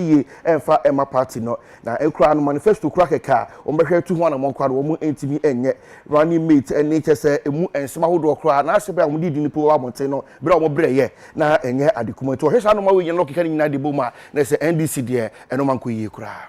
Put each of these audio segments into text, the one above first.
yiye ɛmfa mma party no. Na koraa no manifesto kura kɛkɛ a wɔbɛhwɛ atu ho anamɔn koraa no wɔn ntumi nyɛ. Running mate ɛnne kyerɛ sɛ ɛmu nsɛm ahodoɔ koraa na ahyɛ bere a wɔde di nnipa wɔ abɔnten no bere a wɔn brɛ yɛ na ɛnyɛ ade kumaa. Nti wɔhwɛ saa nnoɔma wei nyinaa na wɔkeka ne nyinaa de bom a na ɛsɛ NDC deɛ ɛno mankɔ yie koraa.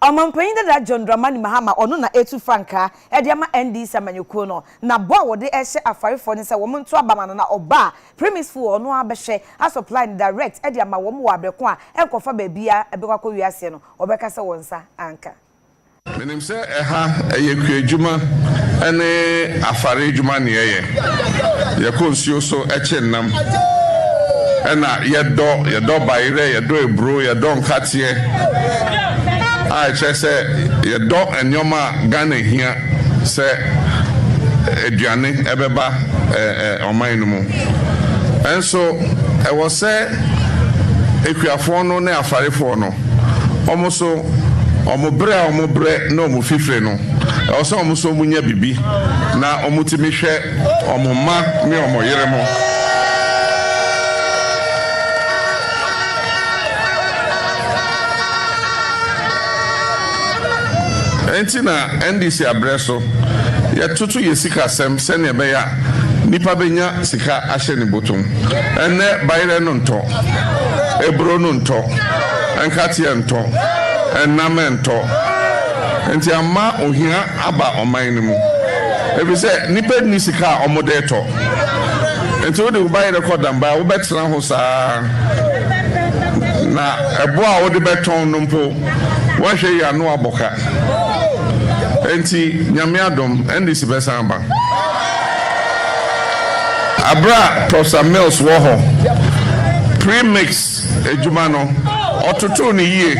Ɔmampanyin dada John Dramani Mahama, ɔno na etu frankaa de ama NDC amanyɔkuo no, na bɔ a wɔde rehyɛ afarefoɔ ne sɛ wɔn nto aba ma no na ɔba a, premise foɔ ɔno ara bɛhwɛ asupply no direct de ama wɔn wɔ abrɛ ko a ɛnkɔfa baabiara ɛbɛkɔ akɔwie aseɛ no, wɔbɛka sɛ wɔn nsa anka. Sɛ ɛha ɛyɛ kuadwuma ne afare adwuma ne yɛyɛ. Yɛkɔ nsuo so kye nnam na yɛdɔ. Yɛdɔ bayerɛ, yɛdɔ aburo, yɛdɔ nkateɛ a ɛkyerɛ sɛ yɛdɔ nneɛma a Ghana hia sɛ aduane ɛbɛba ɔman no mu. Nso ɛwɔ sɛ akuafoɔ no ne afarefoɔ no Wɔn nso, wɔn brɛ a wɔbrɛ ne wɔn fifire no, ɛwɔ sɛ wɔn nso wɔnya biribi na wɔtumi hwɛ wɔn mma ne wɔn yere mo. Enti na NDC abrɛ so, yɛtoto yɛn sikasɛm sɛnea ɛbɛyɛ a Nipa benya sika ahyɛ ne botom. Ɛnnɛ bayerɛ no ntɔ, aburo no ntɔ, nkateɛ ntɔ, nnam ntɔ. Nti ama ohia aba ɔman no mu. Efisɛ nipa nni sika a ɔmo de tɔ. Nti wode wo bayerɛ kɔ danbaa a wobɛtena ho saa na ɛbo a wode bɛtɔn no mpo Woahwɛ yie a na woabɔ ka. Enti Nyame adom, NDC bɛsan aba. Aberɛ a Professor Mills wɔ hɔ, pre-mix adwuma no, ɔtotoo no yie.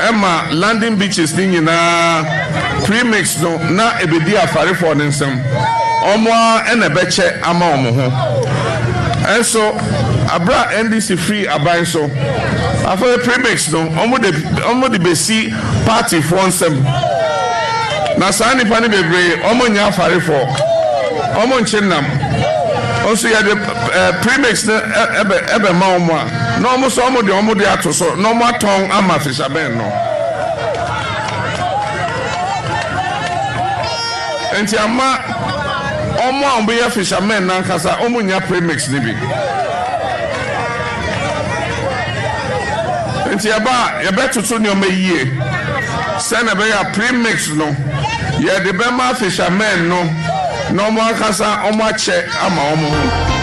Ɛma landing beaches no nyinaa, pre-mix no, na ɛbɛdi Afarefoɔ no nsam. Wɔn ara na ɛbɛkyɛ ama wɔn ho. Nso, aberɛ a NDC firii aban so, Afei premix no wɔn de wɔn de besi party foɔ nsam na saa nipa no bebree wɔn nyɛ afarefoɔ wɔn nkye nam nso yɛde ɛɛ eh, premix no ɛbɛ eh, ɛbɛ eh, ma wɔn a na wɔn nso wɔn de wɔn de ato so na wɔn atɔn ama fishermen no. nti ama wɔn a wɔyɛ fishermen nankasa wɔn nya premix no bi. Nti yɛba a, yɛbɛtoto nneɛma yie sɛdeɛ ɛbɛyɛ a pre-mix no, yɛde bɛma fishermen no na wɔn ankasa wɔakyɛ ama wɔn ho.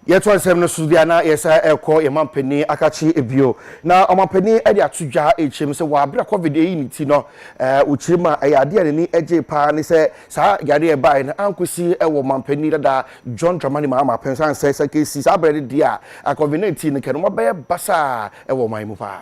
yɛtoa nsɛm no so deɛ na yɛsɛ ɛkɔ yɛn mampanin akakye ebio na ɔmampanin de ato dwa ɛkyɛm sɛ wɔ abira covid ɛyi ne ti no ɛɛ ɔkyiri ma ɛyɛ adeɛ a n'ani gye paa ne sɛ saa yadeɛ ɛbaeɛ no ankɔsi ɛwɔ mampanin dada John Dramani Mahama pɛnsa nsɛ sɛ kesi saa abirɛ no deɛ a covid 19 no kɛ no mabɛyɛ basaa ɛwɔ ɔman mu paa.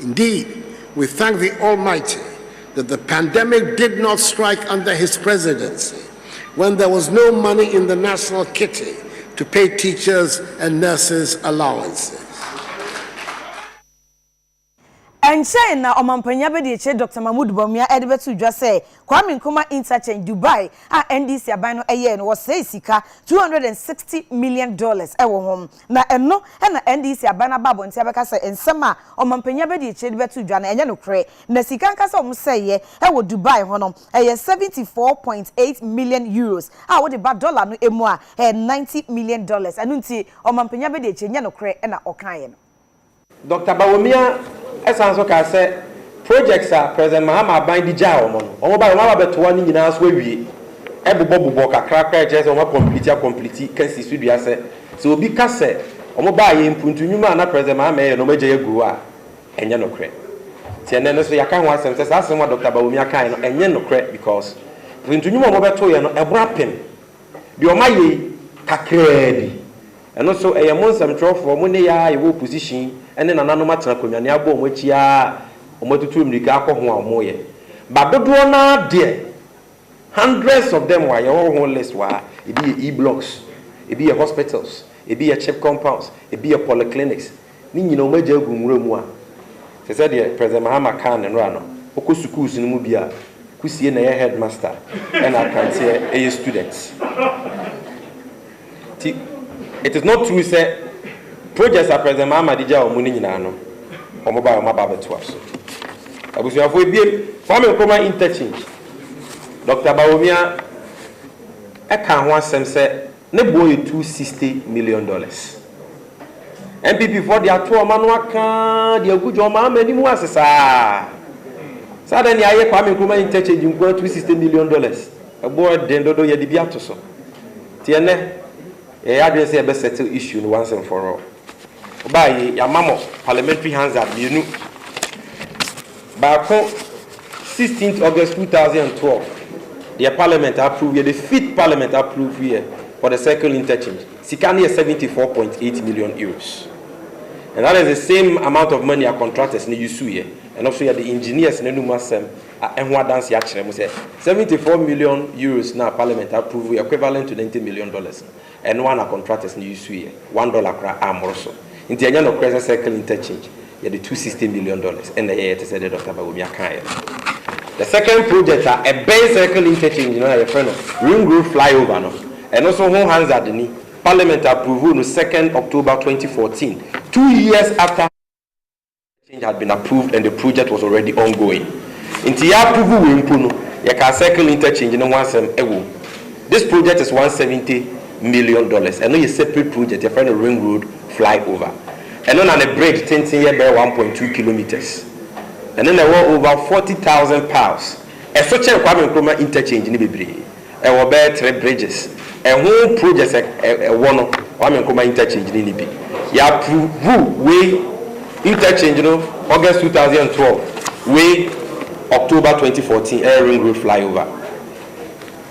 Indeed, we thank the Almighty that the pandemic did not strike under his presidency when there was no money in the national kitty to pay teachers and nurses allowances. Ɛnkyɛe na Ɔmampanyin Abadiakyiri Dɔkta Mahmood Bawumia de bɛtoo dwa sɛ Kwame Nkrumah Interchange, Dubai a NDC aban no yɛe no, wɔsɛee sika two hundred and sixty million dollars wɔ ho. Na ɛno na NDC aban no aba abɔnten abɛka sɛ nsɛm a ɔmampanyin abɛdi akyire de bɛto dwa no ɛnyɛ nokorɛ. Na sika ankasa a wɔsɛeɛ wɔ Dubai hɔ no, ɛyɛ seventy four point eight million Euros a wode ba dɔla no mu a, ɛyɛ ninety million dollars. Ɛno nti ɔmampanyin abɛdi akyire, ɛnyɛ nokorɛ na ɔkaeɛ no. Dɔkta Bawumia san nso kaa sɛ projects a President Mahama aban de gyaa wɔn no, wɔn baeɛ wɔn aba abɛtoa ne nyinaa so awie, ɛbobɔbobɔ kakra koraa a ɛkyerɛ sɛ wɔn akɔmpliti akɔmpliti ka si so dua sɛ, sɛ obi ka sɛ wɔn baeɛ mpo nti nnwuma a na President Mahama ɛreyɛ no wɔn agyae agu hɔ a, ɛnyɛ nokorɛ. Nti ɛnnɛ no nso yɛaka ho asɛm sɛ saa asɛm a Dɔkta Bawumia kaeɛ no ɛnyɛ nokorɛ because nti nnwuma a wɔbɛtoeɛ no ɛboro apem. Deɛ ɔma yei kakraa bi. Ɛno nso ɛyɛ mo nsɛmtwerɛfoɔ, mo ne yɛa a yɛwɔ opposition yi ne nananom atena akonnwa ne abɔ wɔn akyi a wɔn atutu mmirika akɔ ho a wɔn yɛ. Ba dodoɔ no ara deɛ, hundreds of them wɔ ha, yɛwɔ ho list wɔ ha, ebi yɛ E-blocks, ebi yɛ hospitals, ebi yɛ chip compounds, ebi yɛ polyclinics, Ne nyina ɔmo agya agu nwura mu a, te sɛ deɛ President Mahama kaa ne nora no, ɔkɔ sukuus no mu bi a, Kusie na ɛyɛ headmaster ɛna Akanteɛ ɛyɛ student. Nti it is not true sɛ projects a President Mahama de gyaa ɔmo no nyinaa no, ɔmo baeɛ a ɔmo aba abɛtoa so. Abusuafoɔ ebiem, Kwame Nkrumah Interchange, Doctor Bawumia ɛkaa ho asɛm sɛ, Ne boɔ yɛ two sixty million dollars. NPP foɔ de ato wɔn ano aka de agu John Mahama anim ase saa. Sɛ adɛn na yɛayɛ Kwame Nkrumah interchange nko ara two sixty million dollars. Ɛboɔ den dodo yɛde bi ato so. Nti ɛnɛ yɛyɛ adwene sɛ yɛbɛ settle issue no once and for all. Ɔbaa yi, yɛama mo Parliamentary Hansard mmienu. Baako, 16th August 2012, deɛ Parliament approve yɛ, the fifth Parliament approve yɛ for the circle interchange. Sika no yɛ 74.8 million euros. And that is the same amount of money a contractors no use yɛ. Ɛno nso yɛde engineers no anum asɛm ho adanseɛ akyerɛ mo sɛ 74 million euros no a Parliament approve yɛ equivalent to 90 million dollars. Ɛno ara na contractors no usuiɛ, one dollar koraa ammoro so. Nti ɛnyɛ nokorɛ sɛ circle interchange yɛde two sixty million dollars na ɛyɛeɛ te sɛ deɛ Doctor Bawumia kaeɛ no. The second project a ɛbɛn circle interchange no a yɛfrɛ no Ring Road Flyover no, ɛno nso ho hansard ni, Parliament approvoo no second October twenty fourteen, two years after. change had been approved and the project was already ongoing nti yɛ approve wei mpo no yɛkaa circle interchange no ho asɛm wɔ mu this project is one seventy million dollars ɛno yɛ separate project yɛfrɛ no ring road fly over ɛno na ne bridge tenten yɛ bɛyɛ one point two kilometres ɛno na ɛwɔ over forty thousand pounds ɛso kyɛn Kwame Nkrumah interchange no bebree. Ɛwɔ bɛyɛ three bridges ɛho project ɛ ɛwɔ no Kwame Nkrumah interchange no ni bi yɛ approve wei interchange no August two thousand and twelve wei October twenty fourteen ɛyɛ ring road flyover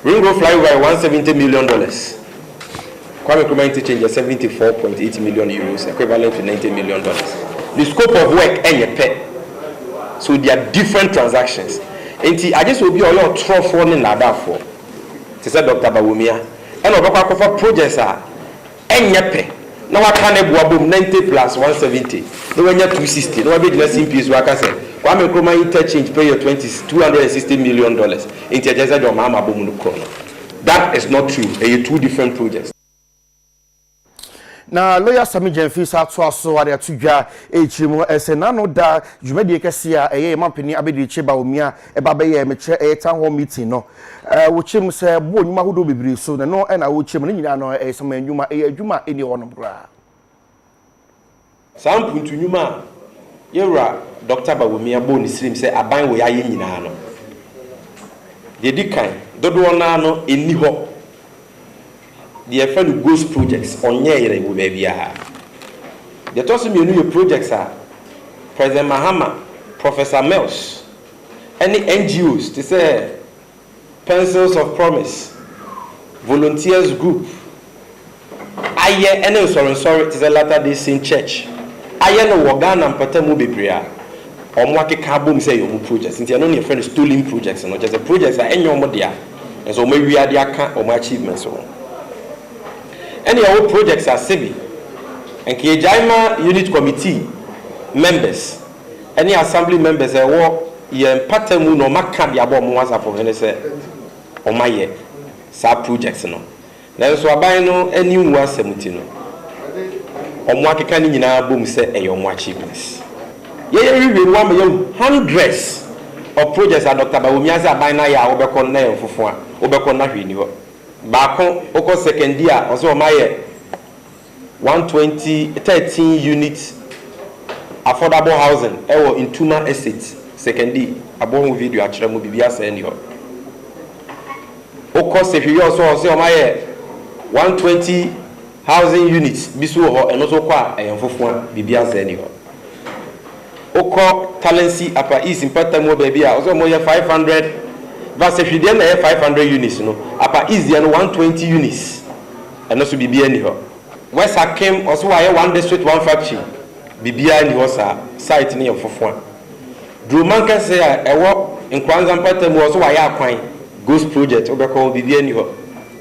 ring road flyover yɛ one seventy million dollars Kwame Nkrumah interchange yɛ seventy four point eight million euros, equivalent to ninety million dollars. Ne scope of work nyɛ pɛ, so they are different transactions. Enti agye sɛ obi a ɔyɛ ɔtorɔfoɔ ne nnaadaafoɔ te sɛ Doctor Bawumia ɛna ɔbɛkɔ akɔfa projects a ɛnyɛ pɛ na waka ne bo abom ninety plus one seventy na wanya two sixty na wabɛgyina Simpie so aka sɛ Kwame Nkrumah interchange pɛ yɛ twenty two hundred and sixty million dollars. Enti ɛkyerɛ sɛ deɛ ɔmaa mabɔ mu no korɔ no. That is not true, ɛyɛ two different projects. Na lawyer Sammy Gyamfi saa toa so ara de ato dwa ɛrekyire mu sɛ n'ano da dwumadie kɛseɛ a ɛyɛ yɛn mampanin Abɛdirikyire Bawumia ɛba bɛyɛɛ mekyerɛ ɛyɛ town hall meeting no. Wɔkyerɛ mu sɛ boɔ nnwuma ahodoɔ bebree so na ɛno na wɔkyerɛ mu, ne nyinaa no ɛyɛ saman nnwuma, ɛyɛ adwuma a ɛnni hɔnom koraa. Saa mpuntu nnwuma a yɛn Wura Dɔkta Bawumia bɔɔ ne sirim sɛ aban wɔ ayɛ nyinaa no, deɛ ɛdi kan, dodoɔ no ara no ɛnni hɔ. Deɛ yɛfrɛ no ghost projects, ɔnyɛeɛ wɔ baabiara. Deɛ ɛtɔ so mmienu yɛ projects a President Mahama, Professor Mills, ne NGOs te sɛ Pencils of Promise Volunteers Group ayɛ ne nsɔrensɔre te sɛ Latter-day Saint Church ayɛ no wɔ Ghana mpatamu bebree a wɔakeka abom sɛ ɛyɛ wɔn projects nti ɛno na yɛfrɛ no Stolen Projects no, kyerɛ sɛ projects a ɛnyɛ wɔn dea nanso wɔawia de aka wɔn achievements ho. Ɛnna yɛwɔ projects ase bi, anka yɛgyae ma Unit Committee members. ɛne assembly members a ɛwɔ yɛn mpata mu na wɔn aka de abɔ wɔn asafo hene sɛ wɔn ayɛ saa project no nanso aban no ani nwu asɛm nti no wɔn akeka ne nyinaa bom sɛ ɛyɛ wɔn achievements yɛ yɛ wiwie no wama yɛahu hundreds of projects a Doctor Bawumia sɛ aban no ayɛ a wobɛkɔ no na yɛ nfofo a wobɛkɔ no na hwee ni hɔ baako wokɔ second di a ɔsɛ wɔn ayɛ one twenty thirteen unit affordable housing wɔ Ntuma Estate, Sekondi, abɔ ho video akyerɛ mo, biribiara sɛɛ nni hɔ. Wokɔ Sehweyɔɔ nso a wɔse wɔayɛ one twenty housing unit bi nso wɔ hɔ, ɛno nso wokɔ a ɛyɛ mfofo a, biribiara sɛɛ nni hɔ. Wokɔ Talensi, Upper East mpata mu hɔ baabi a wɔse wɔyɛ five hundred, Vasehwi deɛ na ɛyɛ five hundred units no, Upper East deɛ no one twenty units. Ɛno so biribiara nni hɔ. West Akim ɔse wayɛ one district one factory biribiara nni hɔ saa site no yɛ mfofoa. Duroman kɛse a ɛwɔ Nkoanza mpata mu ɔse wayɛ akwan ghost project wobɛkɔ hɔ biribiara nni hɔ.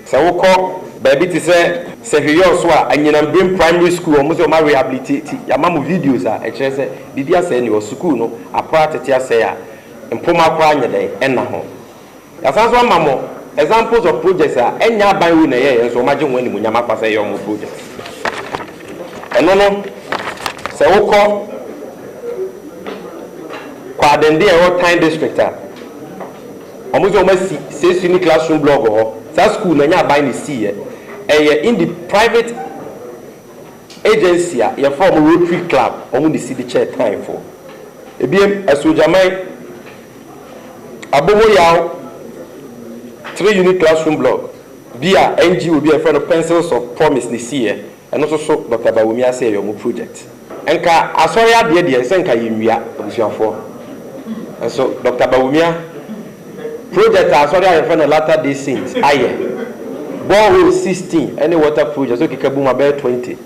Sɛ wokɔ baabi te sɛ Sehweyɔɔ so a anyinam Brim primary school wɔn se wɔn a rehabilitati yɛama mo videos a ɛkyerɛ sɛ biribi asɛe nni hɔ sukuu no apra tete asɛe a mpoma koraa nyɛ dɛn ɛnna ho. Yɛasan nso ama mo examples of projects a ɛnyɛ aban wei na ɛyɛeɛ nso wɔagye ho animuonyam afa sɛ ɛyɛ wɔn projects. Ɛno no, sɛ wokɔ Kwaadende a ɛwɔ Tan District a, wɔn sɛ wɔasi Sesu ne classroom blog hɔ. Saa school no ɛnyɛ aban na ɛsiiɛ, ɛyɛ indi private agency a yɛfrɛ wɔn Rotary Club wɔn na ɛsi de kyɛɛ Tanfoɔ. Ebiem, Asuogyaman. Aboboyaw three unit classroom block bi a NGO bi a wɔfrɛ no Pencils of Promise na esii ɛ, ɛno nso so Dɔkta Bawumia Asea yɛ wɔn project. Nka Asɔre adeɛ deɛ ɛnsɛ nka yɛnwia abusuafoɔ, nanso Dɔkta Bawumia project a Asɔre a yɛfrɛ no Latter Day Saint ayɛ, borehole sixteen ne water project nso keka bom abɛyɛ twenty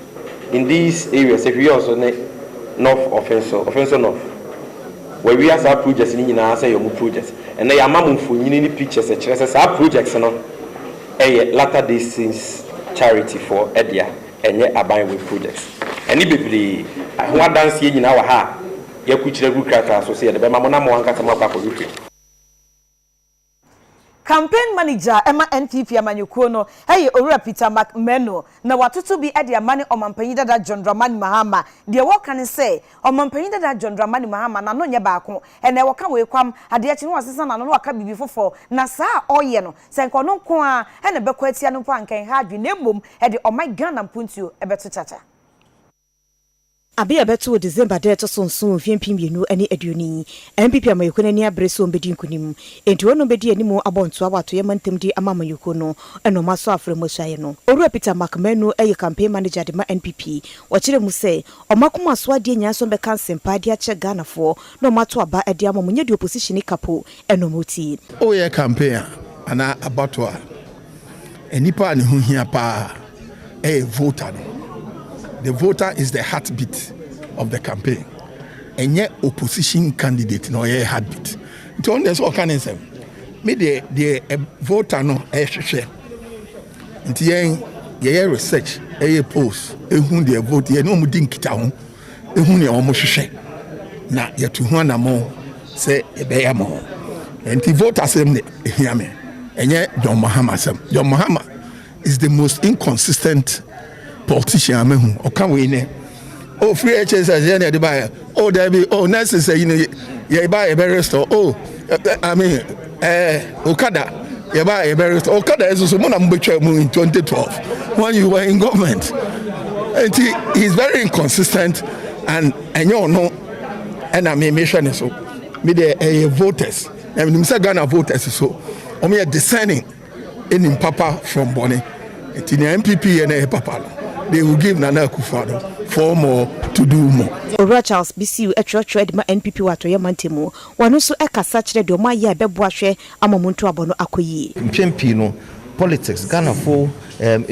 in these areas, Ahwiye Oso ne North Offinso, Offinso North. Wawia saa projects no nyinaa sɛ ɛyɛ wɔn projects. Ɛnnɛ yɛama mo mfonini ne pictures ɛkyerɛ sɛ saa projects no ɛyɛ Latter Day Saints charity foɔ dea, ɛnyɛ aban wei projects. Ɛne bebree a ɛho adanseɛ nyinaa wɔ ha a yɛakurukyire agu krataa so sɛ yɛde bɛma mo na mo ankasa moakɔ akɔhwehwɛ mu. Campaign manager a ɛma NPP amanyɔkuo no yɛ Owura Peter McMurno, na watoto bi de ama ne Ɔmanpanyin dada John Dramani Mahama. Deɛ wɔka ne sɛ, Ɔmanpanyin dada John Dramani Mahama n'ano nyɛ baako, ɛnɛ ɔka wei kwam, adeɛ kye no wasesa n'ano na waka biribi foforɔ, na saa a ɔreyɛ no, sɛ nka ɔno nko ara na ɛbɛkɔ atia no mpo a, nka ɛnha adwene na mmom ɛde ɔman Ghana mpuntuo bɛto kyakya. Aber a ɛbɛtoo December da a ɛtɔ so nson wɔ mfe mpem mmienu ne aduonu yi, NPP amanyɔkuo no ani abere sɛ wɔbɛdi nkunim. Enti wɔnom bɛdi anim abɔ ntoa wɔ atoyɛ mantam de ama amanyɔkuo no na wɔn asɔ afra mu asuaeɛ no. Owura Peter Mark Manu yɛ campaign manager de ma NPP. Ɔkyerɛɛ mu sɛ, Wɔn akoma so adeɛ nyinaa sɛ wɔbɛka nsɛmpa de akyerɛ Ghanafoɔ na wɔn ato aba de ama wɔn nyɛ deɛ opposition ka po na wɔtie. Woyɛ campaign a anaa abatoɔ a, Nnipa a ne ho hia paa ɛyɛ voter no. The voter is the heartbeat of the campaign. Ɛnyɛ opposition candidate na ɔyɛ heartbeat. Nti ɔno deɛ sɛ ɔka ne nsɛm. Me deɛ deɛ voter no ɛhwehwɛ. Nti yɛn yɛyɛ research, ɛyɛ polls, ehu deɛ vote yɛne wɔn di nkitaho. Ehu nea wɔhwehwɛ na yɛatu ho anammɔn sɛ yɛbɛyɛ ama wɔn. Nti vote asɛm na ehia me, ɛnyɛ John Mahama asɛm. John Mahama is the most inconsistent politician a mahu. Ɔka wei nɛ, oh free HSS yɛ na yɛde baeɛ, oh daabi, oh nurses ayi no yɛba yɛbɛ restore, oh I mean Ɛɛ Okada yɛ ba yɛ bɛrɛ sɛ Okada yɛ soso mo na mo bɛ twɛ mu in 2012 when you were in government nti he is very inconsistent and ɛnyɛ ɔno ɛna mi mi hwɛ ne so mi deɛ ɛyɛ voters na mi nim sɛ Ghana voters so wɔn yɛ discerning ɛnim papa from bɔne nti nea NPP yɛ na ɛyɛ papa no they will give Nana Akufo-Addo four more to do more. Owura Charles Bisiu twerɛtwerɛ de ma NPP wɔ atɔeɛ mantam mu. Wɔn nso kasa kyerɛ deɛ wɔayɛ a ɛbɛboa hwɛ ama wɔn ntoabɔ no akɔ yie. Mpɛn pii no, politics, Ghanafo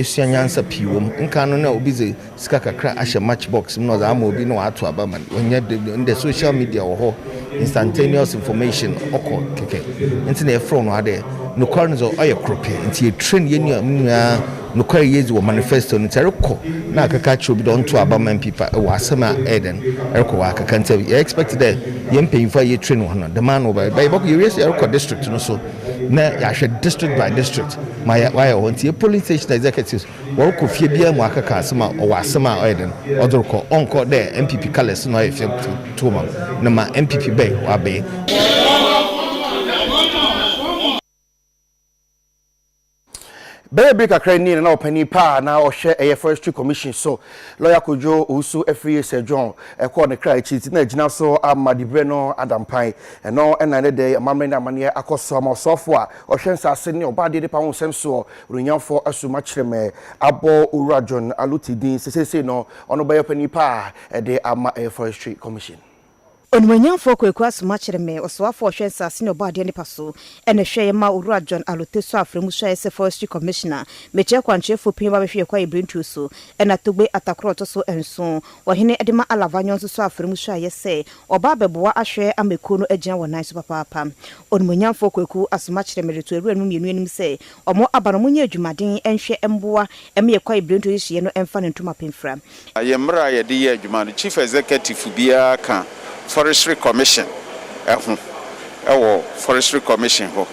sua nyansa pii wɔ mu. Nkan no, nna obi dze sika kakra ahyɛ match box mu na ɔdze ama obi na ɔato aba ma no. Nnyɛ dɛm bio. Ndɛ, social media wɔ hɔ, instantaneous information ɔkɔ kɛkɛ. Ntsi na yɛfrɛ no ara dɛ nokwar no dze ɔyɛ kor pɛ. Ntsi yɛ train hɛn nuanom nyina. Nokwar a yedzi wɔ manifesto no ntsi, erokɔ na akɛka akyerɛ obi dɛ ɔntow aba ma MP fa wɔ asɛm a ɔyɛ dɛn, erokɔ wɔakɛka ntsi yɛ expect dɛ hɛn mpanyimfo a yetrain hɔn no dɛm ara na wɔbɛyɛ. But yɛbɔkɔ, yewie so yɛrokɔ district no so na yɛahwɛ district by district ma yɛ wɔayɛ wɔ hɔ. Ntsi yɛ polling station executives wɔrokɔ fie biara mu akɛka asɛm a ɔwɔ asɛm a ɔyɛ dɛn, ɔdze rokɔ. Ɔnnkɔ dɛ NPP colours na ɔyɛ fɛ tow ma me na ma NPP bɛn wɔabee. Bɛyɛ bere kakra ni na na ɔpanyin pa a na ɔhwɛ ɛyɛ Forestry Commission so, Lɔya Kojo Owusu Afriyie Sir John, kɔ ne kra akyi nti na agyina so ama diberɛ no ada mpan. Ɛno na ɛnnɛ da yi amammerɛ ne amanneɛ akɔ so ama ɔsoafoɔ a ɔhwɛ nsase ne ɔbaa adeɛ ne paa ho nsɛm soɔ, Onuonyamfoɔ Asuma Kyeremɛ abɔ Owura John Aluti din sɛ seisei no ɔno bɛyɛ ɔpanyin pa a de ama ɛyɛ Forestry Commission. Onimuonyamfoɔ Kwaku Asoma Kyeremee, Ɔsoafoɔ a ɔhwɛ nsaase ne ɔbɔadeɛ nnepa so, na ɛhwɛeɛ maa Owura John Alotesor Afrɛ mu suaeɛ sɛ Forestry Commissioner. Mekyɛ Kwankyerɛfoɔ pii a wɔabɛhwɛ yɛn kwaeɛ birentuo so, ɛna Togbe Atakoro a ɔtɔ so nson, Ɔhene de ma Alava Nyong nso sɔɔ afrɛ mu suaeɛ sɛ ɔba abɛboa ahwɛ ama kuo no agyina wɔn nan so papaapa. Onimuonyamfoɔ Kwaku Asoma Kyeremee reto Awuranom mmienu anim sɛ Ɔmo aba no ɔmo nyɛ adwumaden nhwɛ mboa ma yɛ kwae birentuo yi so yɛ no mfa no nto mapɛ mfira. Yɛ mmra a yɛde yɛ adwuma no Chief Executive biara ka Forestry Commission ho wɔ Forestry Commission hɔ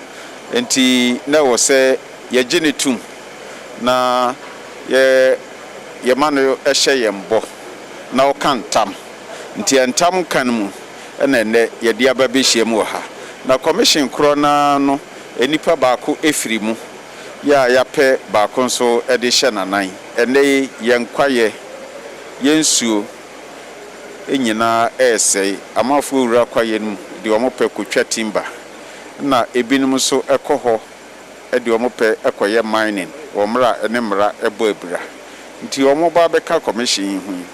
nti na ɛwɔ sɛ yɛ gye no tum na yɛ yɛ ma no hyɛ yɛn bɔ na ɔka ntam nti ntam nka no mu. na ɛnnɛ yɛde aba bɛhyiam wɔ ha. Na Commission korɔ no ara no, nnipa baako firi mu, yɛ a yɛapɛ baako nso de rehyɛ n'anan. Ɛnnɛ yi, yɛn kwaeɛ, yɛn nsuo nyina ara resɛe. Amanfoɔ wura kwaeɛ no mu de wɔn pɛ kɔtwa timber, ɛna binom nso kɔ hɔ de wɔn pɛ kɔyɛ mining wɔ mmerɛ a ɛne mmara bɔ abira. Nti wɔn ba bɛka commission yi ho yi.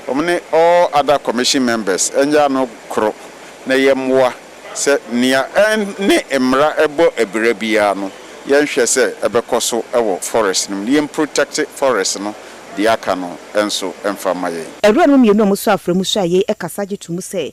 Wɔn ne all other commission members nyɛ ano koro na yɛ mmoa sɛ nea ɛne mmara bɔ abira biara no yɛ nhwɛ sɛ ɛbɛkɔ so wɔ forest no mu na yɛ mprotect forest no deɛ aka no nso mfa mma yɛn. Awuranom mmienu a wɔsɔ afra mu hwɛ a yei kasa gye to mu sɛ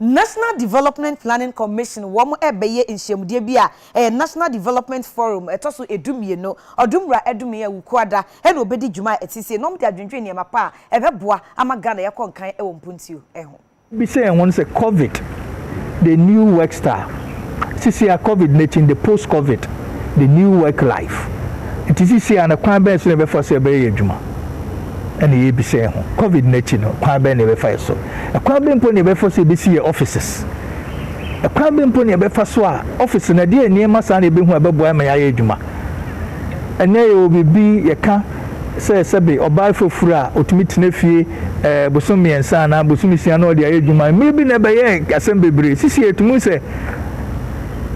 National Development Planning Commission wɔn bɛyɛ nhyiamudeɛ bi a ɛyɛ National Development Forum ɛtɔ so ɛdu mmienu Ɔdomwura Adume Awukuada ɛna ɔbɛdi dwuma a ɛte sei na wɔde adwendwene nneɛma pa a ɛbɛboa ama Ghana yɛkɔ nkan wɔ mpuntuo ho. Yɛbisa yɛn ho no sɛ Covid the new work style? sisi a covid no akyi no the post covid the new work life nti sisi a no kwan bɛn so na yɛbɛfa so yɛbɛyɛ yɛ adwuma ɛna yɛbisa yɛ ho covid no akyi no kwan bɛn na yɛbɛfa yɛ so ɛkwan bɛn mpo na yɛbɛfa so yɛbɛsi yɛ offices ɛkwan bɛn mpo na yɛbɛfa so a office no ɛdeɛ nneɛma saa na yɛbɛhu a ɛbɛboa ma yɛayɛ adwuma ɛnɛ yɛwɔ biribi yɛka sɛ sɛbe ɔbaa fafuru a otumi tena fie ɛɛ bosom mmiɛnsa anaa bosom nsia na ɔde ayɛ adwuma. Mmere bi na ɛbɛyɛɛ asɛm bebree. Sisi yɛ tumi hu sɛ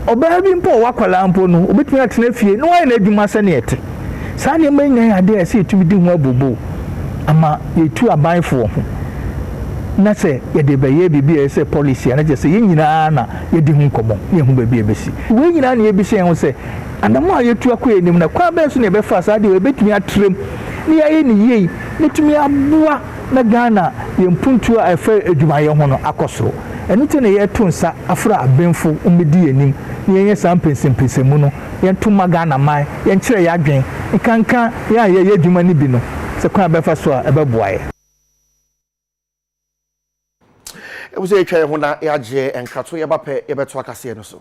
ɔbaa bi mpo a ɔwɔ akwadaa mpo no, obetumi atena fie na wayɛ n'adwuma sɛnea ɛte. Saa nneɛma yi nyinaa yɛ ade a ɛsɛ yɛtumi di ho abooboo ama yɛatu abanfoɔ ho na sɛ yɛde bɛyɛ biribi a ɛyɛ sɛ policy a na kyerɛ sɛ yɛn nyinaa na yɛadi ho nkɔmmɔ na yɛahu baabi a ɛbɛsi. Wei nyinaa na yɛbisa yɛn ho sɛ Anammɔn a yɛtu akɔ anim no, kwan bɛn so na yɛbɛfa saa de a yɛbɛtumi atra mu na yɛayɛ no yie na atumi aboa na Ghana yɛn mpuntuo a ɛfa adwumayɛ ho no akɔ soro? Ɛno nti na yɛreto nsa afrɛ abenfo mmɛdi yɛn anim na yɛnyɛ saa mpɛnsɛmpɛnsɛmu no, yɛnto mma Ghana man, yɛnkyerɛ yɛn adwene, nkanka yɛn a yɛreyɛ adwuma no bi no, sɛ kwan bɛfa so a ɛbɛboa yɛn. Ɛwɔ sɛ yɛtwa yɛn ho na yɛagye yɛn nkra to yɛn ba pɛ yɛbɛtoa kaseɛ no so.